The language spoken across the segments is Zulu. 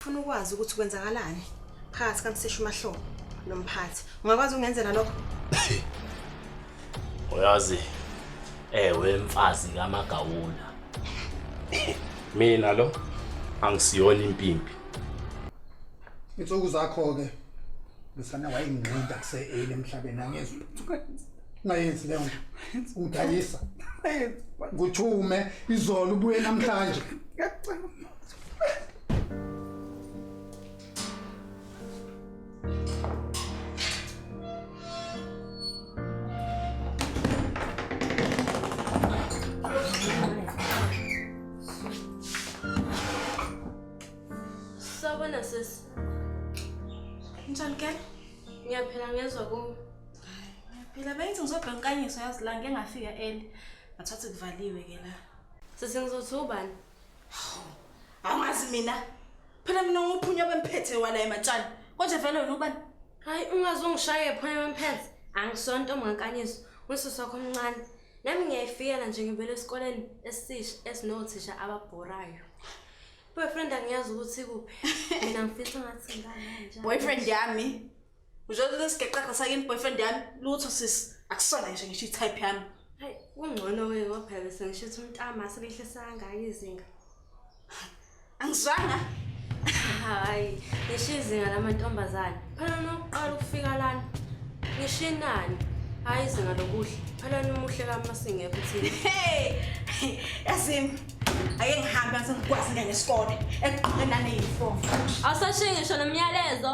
Funa ukwazi ukuthi kwenzakalani phakathi kamseshu mahlobo nomphathi. Ungakwazi ungenzela lokho? Uyazi ewe mfazi kamagawula. Mina lo angisiyona impimpi. Insuku zakho ke Lusana wayengqinda kuseeli emhlabeni angizwa. Ngayenzi leyo nto. Ungidayisa. Nguthume izolo ubuye namhlanje. Sawubona sisi. Njani ke? Ngiyaphila ngezwa ku. Ngiyaphila bengithi ngizobheka inkanyiso yazi la ngeke ngafika early. Ngathatha kuvaliwe ke la. Sisi ngizothi ubani? Angazi mina. Phela mina nguphunya bemphethe wala ematshana. Konje vele wena ubani? Hayi ungaze ungishaye phunya bemphethe. Angisonto omngakanyiso. Usisi wakho omncane. Nami ngiyayifikela nje ngivela esikoleni esisha esinothisha ababhorayo. Boyfriend angiyazi ukuthi kuphi. Mina ngifisa ngathi ngane nje. Boyfriend yami Uzothi lesigeqaqa sakini boyfriend yami lutho sis akusona nje ngisho i-type yami. Hayi kungcono ke ngoba phela bese ngisho ukuthi umntama asebehlisa kangaka izinga. Angizwanga. Hayi, ngisho izinga lamantombazane. Phela nokuqala ukufika lana. Ngisho inani. Hayi izinga lokuhle. Phela nomuhle kamasingekho thina. Hey! Yazimi. Ake ngihambe ngase ngikwazi ngene esikole. Eqhubeke nane uniform. Awusashiye ngisho nomyalezo.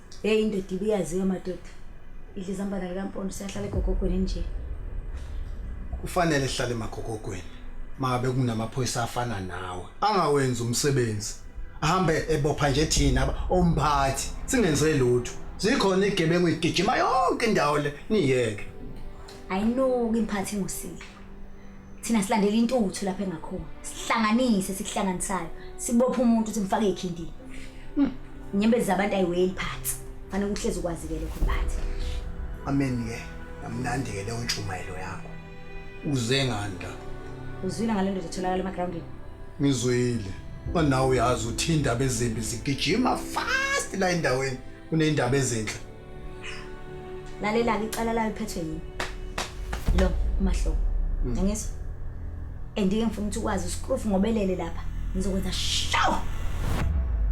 Hey indoda ibiyaziwa madoda. Idla izambana likampondo siyahlala egogogweni nje. Kufanele sihlale emagogogweni. Mabe kunamaphoyisa afana nawe. Angawenzi umsebenzi. Ahambe ebopha nje thina aba- omphathi singenze lutho. Zikhona igebengu igijima yonke indawo le niyeke. ayinuki imphathi ngusile thina silandela intuthu lapha engakhona sihlanganise sikuhlanganisayo sibophe umuntu ukuthi mfake ikhindini hmm, inyembezi zabantu ayiweli phansi fanele ukuhlezi ukwazike lokho mphathi amen-ke yamnandi-ke leyo ntshumayelo yakho uze nganda uzwile ngale ndoda etholakala emagrawundini ngizwile manawe uyazi uthi indaba ezimbi zigijima fast la endaweni Kuneyindaba ezinhle. Lalelani icala layo liphethwe yini? Lo umahlobo. Hmm. Ngiyangizwa. Andike ngifuna ukuthi ukwazi uskrufu ngobelele lapha. Ngizokwenza shaw.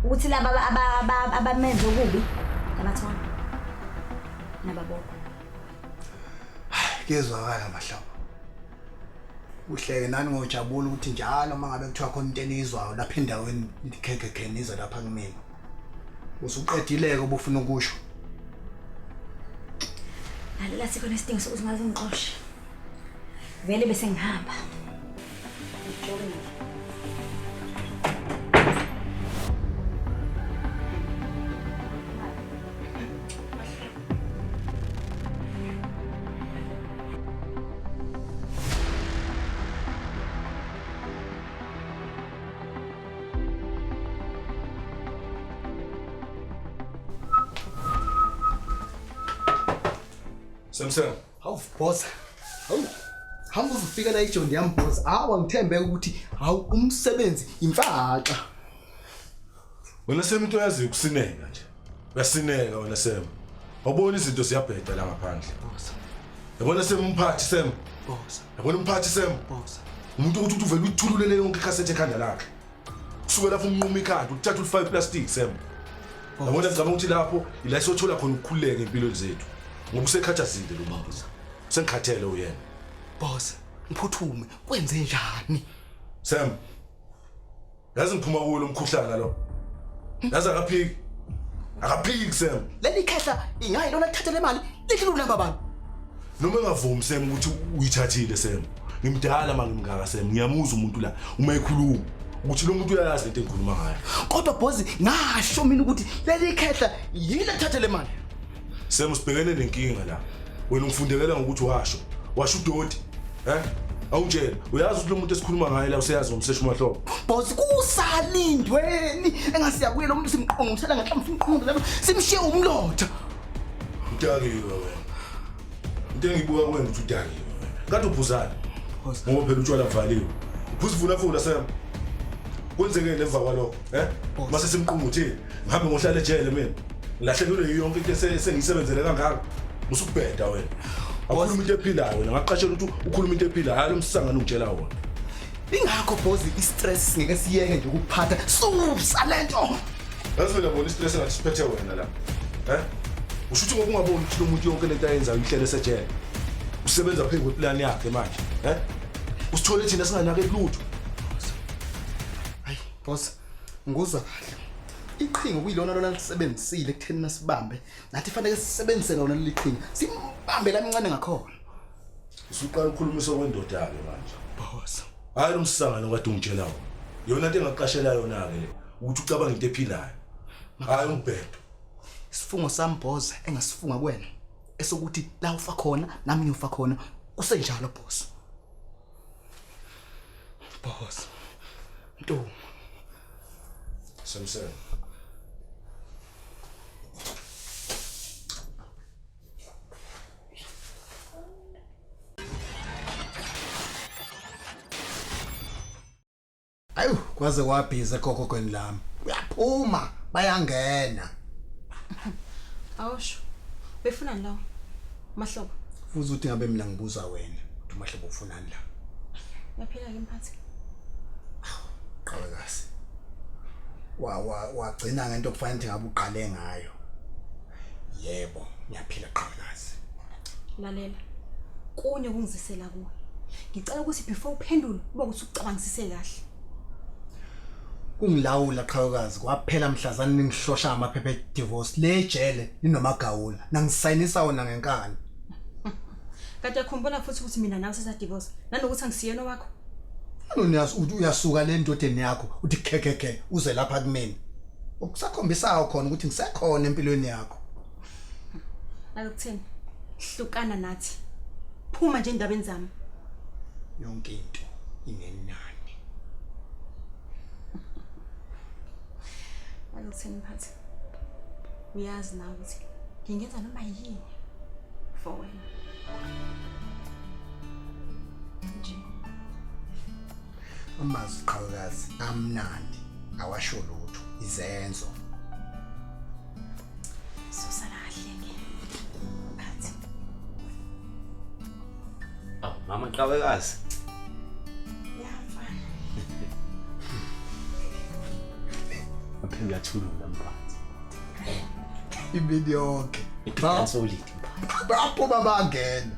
Ukuthi laba abamenze okubi labathona. Nababokho. Kuyezwakala mahlobo. uhleke nani ngojabula ukuthi njalo uma ngabe kuthiwa khona into eniyizwayo lapha endaweni nikhekhe kheniza lapha kumina usuqedileke obufuna ukusho lalela sikhona isidingo sokuthi ngaze ngixoshe vele bese ngihamba Samson. Hawu boss. Hawu. Hamba uzofika la ijondi yami boss. Hawu angithembeke ukuthi hawu umsebenzi imfaxa. Wena semuntu oyazi ukusineka nje. Uyasineka wena Sam. Awubona izinto ziyabheda la ngaphandle. Boss. Yabona semumphathi Sam. Boss. yabona umphathi sem umuntu ukuthi uthi uvele uyithululele yonke ikhasethi ekhanda lakhe kusuke lapho umnquma ikhanda uthatha ulifake iplastic sem yabona ngicabanga ukuthi lapho ila esothola khona ukukhululeka empilweni zethu ngoba usekhathazile lo mama sengikhathele uyena boss ngiphuthume kwenze njani sem Yazi ngiphuma kuwo lo mkhuhlane lo. Yazi akaphiki. Akaphiki kusema. Leli khehla ingayi lona lithathe le mali lithi lunamba abantu. Noma engavumi sema ukuthi uyithathile sema. Ngimdala manje ngimngaka sema. Ngiyamuza umuntu la uma ekhuluma. ukuthi lo muntu uyayazi lento engikhuluma ngayo kodwa bhozi ngasho mina ukuthi leli khehla yini ethathe le mali Sema usibhekene nenkinga la. Wena ungifundekela ngokuthi washo. Washo udoti. Eh? Awutshela, uyazi ukuthi lo muntu esikhuluma ngaye la useyazi ngomsesha umahlobo. Boss kusalindweni engasiya kuye lo muntu simqongo ngisala ngathi mfuna uqondo lapho simshiye umlotha. Udakiwe wena. Into engibuka kuwe ngithi udakiwe. Kanti ubhuzana. Ngoba phela utshwala kuvaliwe. Ubhuzivula fula Sam. Kwenzekeni emva kwalokho, eh? Mase simqunga uthini? ngihambe ngohlale ejele mina ngilahlekelwe yiyo yonke into ese- esengiyisebenzele kangaka usukubheda wena awukhuluma into ephilayo wena ngaqashela ukuthi ukhuluma into ephilayo hayi lo msangano ungitshela wona ingakho bozi i-stress singeke siyeke nje ukuphatha susa le nto yazi mina bona istress engathi siphethe wena la um usho ukuthi ngokungaboni ukuthi lo muntu yonke lento ayenzayo ihlele esejele usebenza phezu kweplani yakhe manje um usithole thina singanake lutho bosi Nguzwa kahle. Iqhinga kuyilona lona lisebenzisile ekutheni nasibambe. Nathi fanele sisebenzise lona leli qhinga. Simbambe la mncane ngakhona. Usuqala ukukhulumisa kwendoda ke manje. Boss. Hayi umsangano kade ungitshela wona. Yona into engaqashela yona ke le ukuthi ucabanga into ephilayo. Hayi umbhedo. Isifungo sami boss engasifunga kuwena esokuthi la ufa khona nami ngiyofa khona kusenjalo boss. Boss. Ntombi. Samson. Ayu, kwaze wabhiza gogo kweni lami. Uyaphuma, bayangena. Awusho. Befuna lawo. Mahlobo. Futhi uthi ngabe mina ngibuza wena. Uthi mahlobo ufuna Mandla. Yaphila ke mphathi. Qhawekazi. Wa wa wagcina ngento okufanele ukuthi ngabe uqale ngayo. Yebo, ngiyaphila qhawekazi. Lalela. Kunye kungizisela kuwe. Ngicela ukuthi before uphendule uba ukuthi ucabangisise kahle. kungilawula qhawekazi kwaphela mhlazana ningihlosha amaphepha edivorce le jele linomagawula nangisayinisa wona ngenkani Kade yakhumbula futhi ukuthi mina nawe sesadivorce nanokuthi angisiyena wakho. Noniyas uthi uyasuka le ndodeni yakho uthi khekeke uze lapha kumina. Ukusakhombisayo khona ukuthi ngisekhona empilweni yakho. Akuthini? Hlukana nathi. Phuma nje endabeni zami. Yonke into inenani. Akuthini phathi. uyazi na ukuthi ngingenza noma yini for wena nje amazwi qhawekazi amnandi awasho lutho izenzo Aw, mama qhawekazi. Uphinde uyathulula mphansi. Imini yonke. Iphika solid mphansi. Baphuma bangene.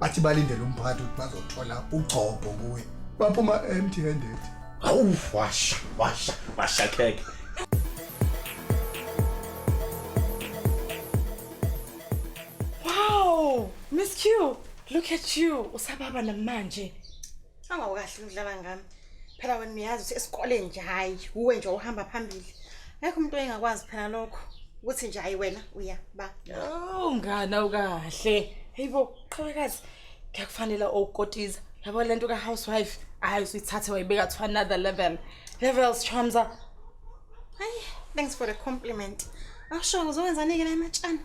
Bathi balindele umphathi ukuthi bazothola ugcobo kuye. Baphuma empty handed. Hawu washa, washa, washa kheke. Wow, Miss Q, look at you. Usababa namanje. Awukahle udlala ngami. Phela wena uyazi ukuthi esikoleni nje hayi uwe nje uhamba phambili. Ngeke umuntu engakwazi phela lokho ukuthi nje hayi wena uya ba. Oh ngani awukahle. Hayibo qhawekazi. Ngiyakufanela okukotiza. Yabo lento ka housewife. Hayi usithathe wayibeka to another level. Levels Chamza. Hayi, thanks for the compliment. Awusho ngizowenzani-ke la ematshana?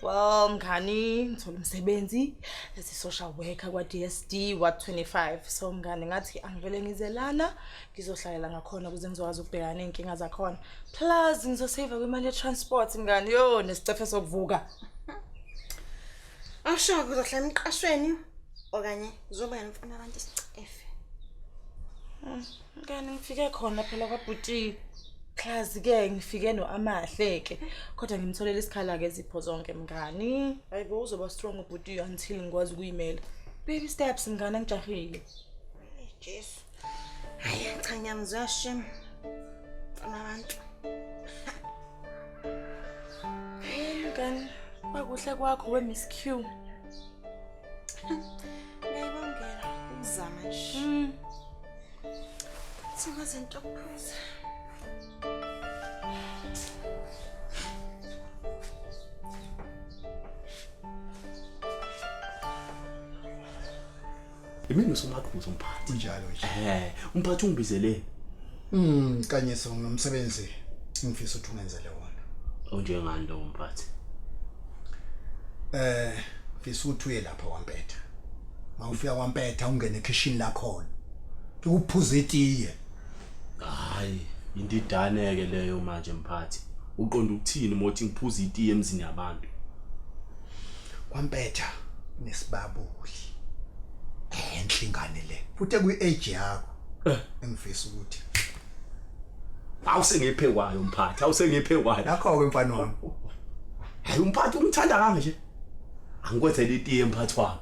Well, mngani ngithola umsebenzi as a social worker kwa-DSD Ward 25. So mngani ngathi angivele ngize lana ngizohlalela ngakhona ukuze ngizokwazi ukubhekana ney'nkinga zakhona. Plus ngizosave kwimali ye-transport mngani yo nesicefe sokuvuka. Awusho uzohlala emqashweni okanye uzoba yena ufuna abantu isicefe. Mngani ngifike khona phela kwabhuti class ke ngifike noamahle ke kodwa ngimtholela isikhala ke zipho zonke mngani ayibo uzoba strong ubhuti until ngikwazi ukuyimela baby steps mngani angijahile Jesu hayi cha ngiyamzwa shem abantu mngani bakuhle kwakho we miss q Ngiyabongela ukuzama nje. Mm. Sima zinto kuphuza. Imini usumakhulu umphathi. Unjalo nje. Eh, umphathi ungibizele Mm, kanyiso ngomsebenzi ngifisa ukuthi ungenzele wona. Unjengani lo mphathi? Eh, ngifisa ukuthi uye lapha kwampetha. Mawufika kwampetha ungene ekitchen lakhona. Ukuphuza itiye. Hayi, indidane ke leyo manje mphathi. Uqonda ukuthini mothi ngiphuza itiye emzini yabantu? Kwampetha nesibabuli. Enhle ingane le. Futhi ekuyi-age yakho. eh. engifisa ukuthi awusengephe kwayo mphathi awusengephe kwayo nakho ke mfana wami hayi umphathi umthanda kanje angikwethele itiye mphathi wami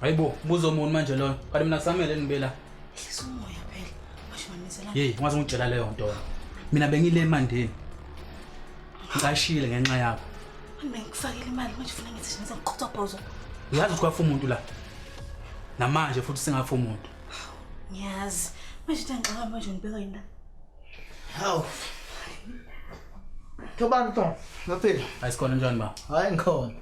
hayi bo buza omuntu manje loyo kanti mina kusamele nibe la ehlisa umoya phela washimanisela yeyi ungaze ungitshela leyo nto mina bengile emandeni ngicashile ngenxa yakho bengikufakile imali manje funa ngithi ngize ngiqhothobhozo uyazi ukuthi kwafa umuntu la namanje futhi singafa umuntu ngiyazi manje ntangixa manje ngibeka yini la Hawu. Thobani Tom, ngaphila. Hayi sikhona njani ba? Hayi ngikhona.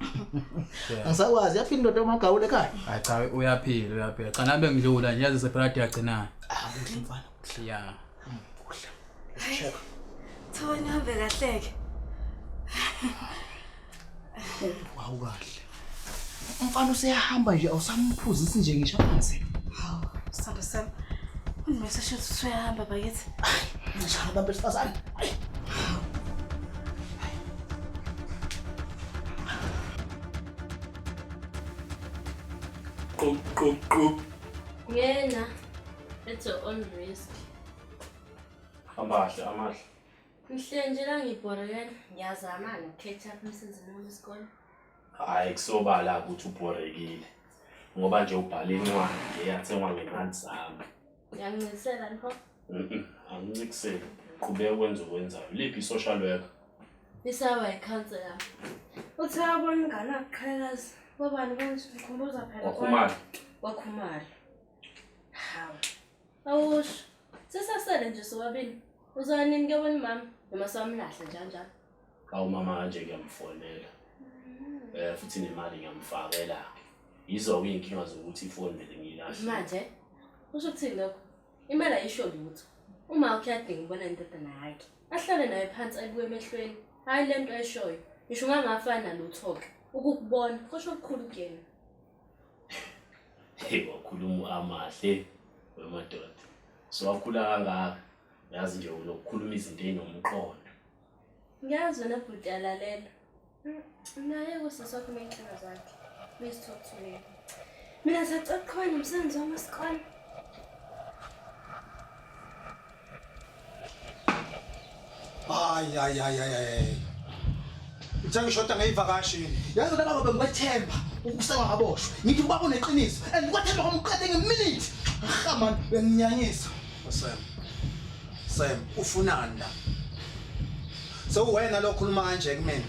Angisakwazi yaphila indoda omagawule ekhaya. Hayi cha uyaphila uyaphila. Cha nabe ngidlula nje yazi sephela yagcinana. Ah, kuhle mfana. Kuhle ya. Kuhle. Check. Thobani hambe kahleke. Hawu kahle. Umfana useyahamba nje awusamphuzisi nje ngisho phansi. Hawu, sithando sami. Unimese shothi usuyahamba bakithi. Ngishaya abantu besifazane. Hayi. Qop qop qop. Ngena. It's your own risk. Amahle amahle. Mhlengela ngibhorekela ngiyazama nokukhetha emsenzini wami isikole. Hayi kusobala ukuthi ubhorekile ngoba nje ubhala incwadi eyathengwa ngemali zami. Ngiyancikisela nho. Angincikiseli. Qhubeka ukwenza okwenzayo. Liphi i-social worker? Isawa ikhansela. Uthi wabona ingane akuqhakazi. Bobani kanje ukhumbuza phela. Wakhumala. Wakhumala. Hawu. Awusho. Sisasele nje sobabili. Uzoya nini ke wena mama? Noma sawamlahla njalo njalo. Awu mama kanje ngiyamfonela. Eh futhi nemali ngiyamfakela. Yizo ke inkinga zokuthi ifoni vele ngiyilahle. Manje usho ukuthini lokho? Imali ayisho lutho. Uma ukuyadinga ubona indodana yakhe. Ahlale naye phansi ayibuke emehlweni. Hayi lento ayishoyo. Ngisho ungangafana lutho ke. Ukukubona kusho ukukhulu kuyena. Hey wakhuluma amahle wemadoda. So wakhula kangaka. Yazi nje unokukhuluma izinto ezinomqondo. Ngiyazi wena bhuti alalela. Naye kusasa wakho inkinga zakhe. Let's talk to me. Mina sacela kukhona umsebenzi wami wesikole. Ay, ay, ay, ay, ay. Ngithe ngishoda ngeyivakashi. Yazi laba ngoba ngikwethemba ukuseka ngaboshwa. Ngithi ubaba uneqiniso and ngikwethemba kwamqede ngeminute. Cha man, uyanginyanyisa. Sam. Sam, ufunani la? Sewuwena lo okhuluma kanje kumina.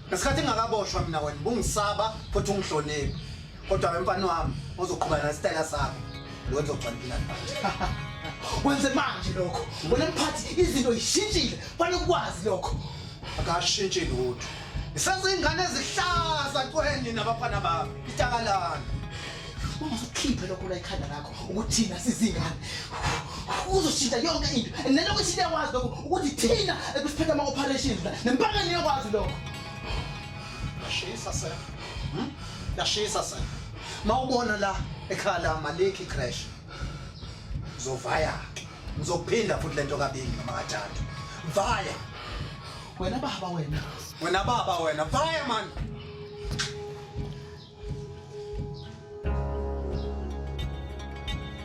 Ngesikhathi ngingakaboshwa mina wena bungisaba futhi ungihloniphi. Kodwa ke mfana wami uzoqhubana nesitayela sakho. Lo uzogcina impilo yakho. Wenze manje lokho. Wena mphathi izinto zishintshile. Fanele ukwazi lokho. Akashintshi lutho. Isazingane ezihlaza kwenye nabafana bami. Itakalana. Uma usukhiphe lokho la ikhanda lakho ukuthi thina sizingane. Uzoshintsha yonke into. And naloko ishintsha yakwazi lokho ukuthi thina ekusiphethe ama operations la. Nempangeni yakwazi lokho. Shisa sir. Lashisa sana. Mawubona la ekhaya la Maliki crash. Zovaya. Ngizophinda futhi lento kabili noma kathathu. Vaya. Wena baba wena. Wena baba wena. Vaya man.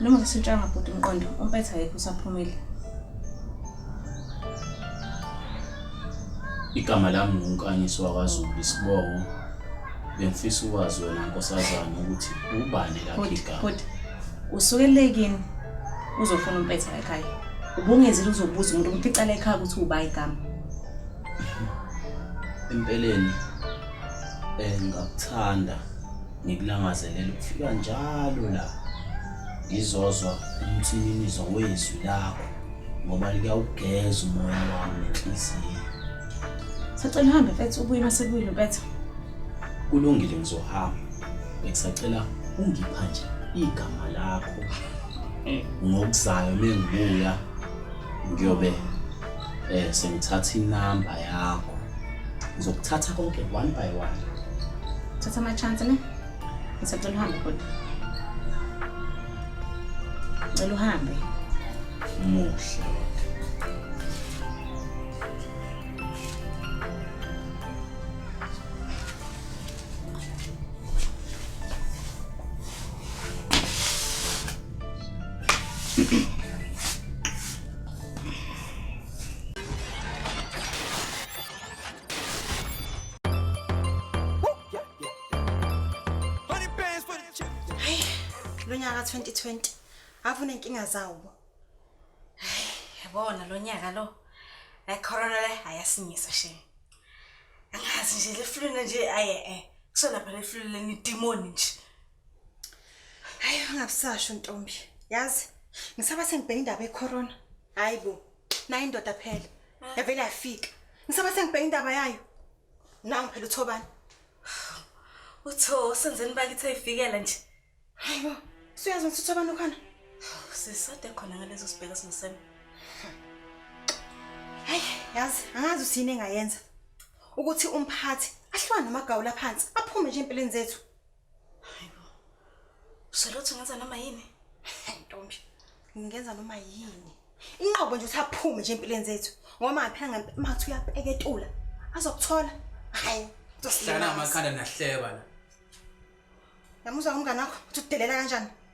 Noma ngisutshanga bhuti umqondo, umpetha yekho usaphumile. Igama lami nguNkanyiso wakwaZulu isibongo. Bengifisa ukwazi wena nkosazana ukuthi ubani lakhe igama. Bhuti, usukelele kini uzofuna umpetha ekhaya. Ubungezile uzobuza umuntu ukuthi icala ekhaya ukuthi uba igama. Empeleni eh ngakuthanda Ngikulangazelela ukufika njalo la ngizozwa umthininizo wezwi lakho ngoba liyawugeza umoya wami nenhliziyo. Sacela uhambe mfethu ubuye uma sebuyile umpetha. Kulungile ngizohamba. Ngisacela ungipha nje igama lakho ngokuzayo mengibuya ngiyobe Eh sengithatha inamba yakho. Ngizokuthatha konke one by one. Thatha ama chance ne. Ngisacela uhambe kodwa. Ngicela uhambe. Muhle. Hey, lo nyaka 2020 avune inkinga zawo. Yabona lo nyaka lo. Le corona le ayasinyisa shame. Angazi nje le flu nje aye eh. Kusona phela le flu le ni demon nje. Hayi ungakusasho ntombi. Yazi ngisaba sengibheka indaba ecorona. Hayibo. Nayi indoda phela. Ah. Yavele yafika. Ngisaba sengibheka indaba yayo. Nangu phela uthobani. Utho senzeni bakithi ayifikela nje. Hayibo. Suyazi ukuthi uthobani ukhona? Sisade khona ngalezo sibheka sinosema. Hayi, yazi angazi usini engayenza. Ukuthi umphathi ahlwane namagawula phansi aphume nje empilweni zethu. Hayibo. Uselothi ngenza noma yini? Ntombi, ngingenza noma yini. Inqobo nje uthaphume nje empilweni zethu. Ngoba ngaphela ngempela mathi uyapeketula. Azokuthola. Hayi. Hlala amakhanda nahleba la. Yamuzwa umngane wakho uthi udelela kanjani?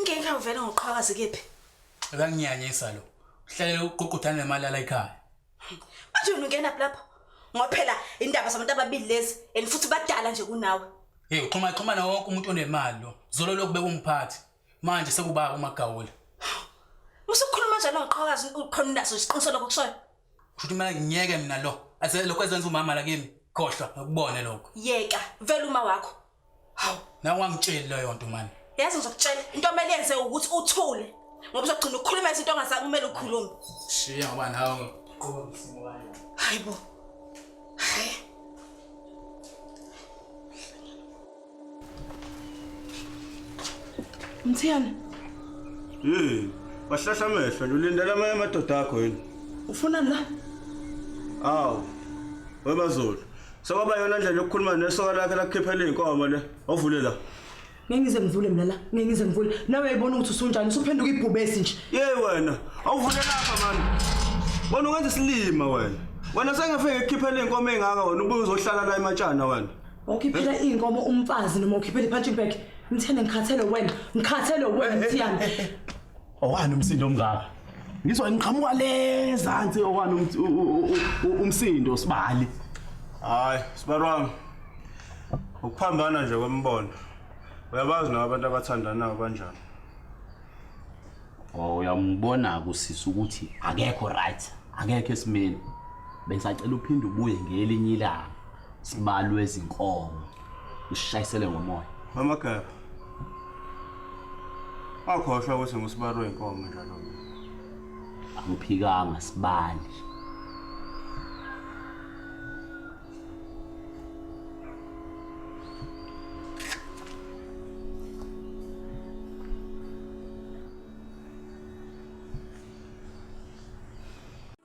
Ngenka uvele ngoqhakazi kephi? Akanginyanyisa lo. Uhlale uququdana nemalala ekhaya. Manje wena ungena lapho. Ngoba phela indaba zabantu ababili lezi and futhi badala nje kunawe. Hey, uxhuma xhuma nawo wonke umuntu onemali lo. Zolo lokube umphathi. Manje sekuba umagawula. Usukhuluma njalo ngoqhakazi ukhona unaso isiqiniso lokho kushoyo. Futhi mina ngiyeke mina lo. Ase lokho ezenza umama la kimi. Khohlwa ngokubone lokho. Yeka, vele uma wakho. Hawu, nawe ungangitsheli leyo nto mani. Yazi ngizokutshela into omele yenze ukuthi uthule. Ngoba uzogcina ukukhuluma izinto ongasakumele ukhulume. Shiya ngoba nawe ngiqoka ngisimo kanje. Hayibo. Hayi. Mthiyana. Hey, wahlahla amehlo lulindela amanye amadoda akho yini? Ufuna la? Awu. Webazulu. Sekwaba yona ndlela yokukhuluma nesoka lakhe lakukhiphela izinkomo le. Ovule la. Ngeke ngize ngivule mina la. Ngeke ngize ngivule. Nawe uyayibona ukuthi usunjani, usuphenduka ibhubesi nje. Yey wena, awuvule lapha mani. Wena ukwenza isilima wena. Wena sengefike ekukhiphela izinkomo ezingaka wena ubuye uzohlala la ematshana wena. Ukhiphela izinkomo umfazi noma ukhiphela ipunching bag. Mthene ngikhathele wena. Ngikhathele wena Mthiyane. Owani umsindo omngaka? Ngizwa ngiqhamuka lezansi owani um- u- u- u- u- umsindo sibali. Hayi, sibarwami. Ukuphambana nje kwemibono. Uyabazi nawe abantu abathandanayo banjani. Oh uyambona kusisa ukuthi akekho right, akekho esimeni. Bengisacela uphinde ubuye ngelinye ilanga. sibalwe izinkomo ushayisele ngomoya mama gaba akhohlwa ukuthi ngusibalwe inkomo njalo angiphikanga sibali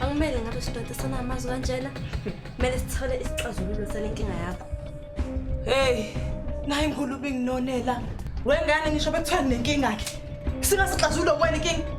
Akumele ngabe sidoda sana amazwi kanjena. Kumele sithole isixazululo sale nkinga yakho. Hey, nayi ngulubi nginonela. Wengane ngisho bekuthiwa nenkinga ke. Singasixazululo kwena inkinga.